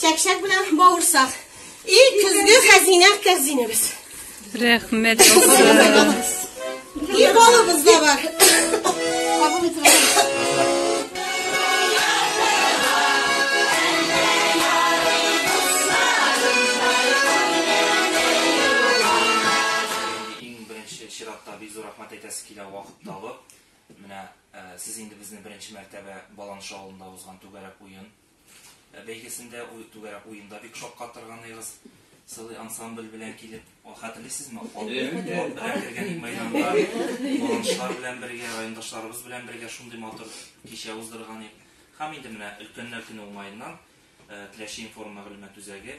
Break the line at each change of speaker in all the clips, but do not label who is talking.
Чәкчәк белән бавырсак. И көзге хәзинә кәрзинебез. Рәхмәт булсын. И балыбыз да бар. Кабул итеп чиратта бик зур рәхмәт әйтәсе килә вакыт табып. Менә сез инде безне беренче мәртәбә Баланша авылында узган түгәрәк уен Бәйгесендә түгәрәк уенда бик шаккатырган егыз сылый ансамбль белән килеп, хәтерлисезме? Кергән мәйданда баланшлар белән бергә, райондашларыбыз белән бергә шундый матур кичә уздырган идек. Һәм инде менә өлкәннәр көне уңаеннан Теләче информ мәгълүмат үзәге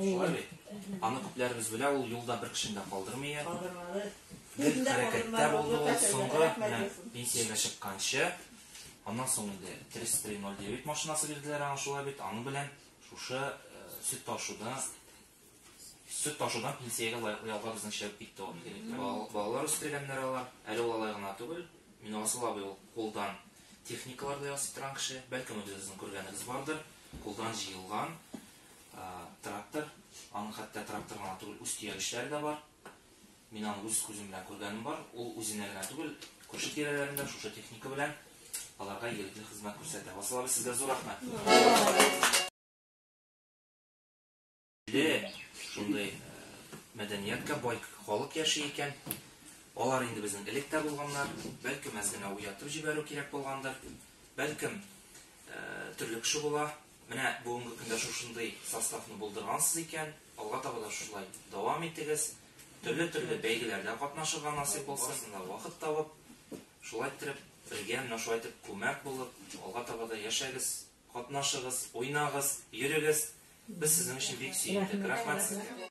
Шулай бит. Аны күпләребез белә, ул юлда бер кешене дә калдырмый. Калдырмады. Бер хәрәкәттә булды ул соңгы менә пенсиягә чыкканчы. Аннан соң инде 3309 машинасы бирделәр аңа шулай бит. Аны белән шушы э, сөт ташуда Сөт ташудан пенсиягә лаеклы ялга безнең чыгып китте ул. Балалар үстергәннәр алар. Әле ул алай гына түгел. Минорасыл абый ул кулдан техникалар да ясый торган кеше. Бәлкем үзегезнең күргәнегез бардыр. Кулдан җыелган трактор. Аның хәтта трактор гына түгел, үз төягечләре дә бар. Мин аны үз күзем белән күргәнем бар. Ул үзенә генә түгел, күрше-тирәләрен дә шушы техника белән аларга игелекле хезмәт күрсәтә. Васыл абый, сезгә зур рәхмәт! Бе, шундый э, мәдәниятка бай халык яши икән. Алар инде безнең элек тә булганнар. Бәлкем әз генә уятып җибәрү кирәк булгандыр. Бәлкем э, төрле кеше була. Менә бүгенге көндә шушындый составны булдыргансыз икән, алга таба да шулай дәвам итегез. Төрле-төрле бәйгеләрдә катнашырга насыйп булсын, вакыт табып, шулай иттереп, бергә менә шулай итеп күмәк булып, алга таба да яшәгез. Катнашыгыз, уйнагыз, йөрегез, без сезнең өчен бик сөендек, рәхмәт сезгә!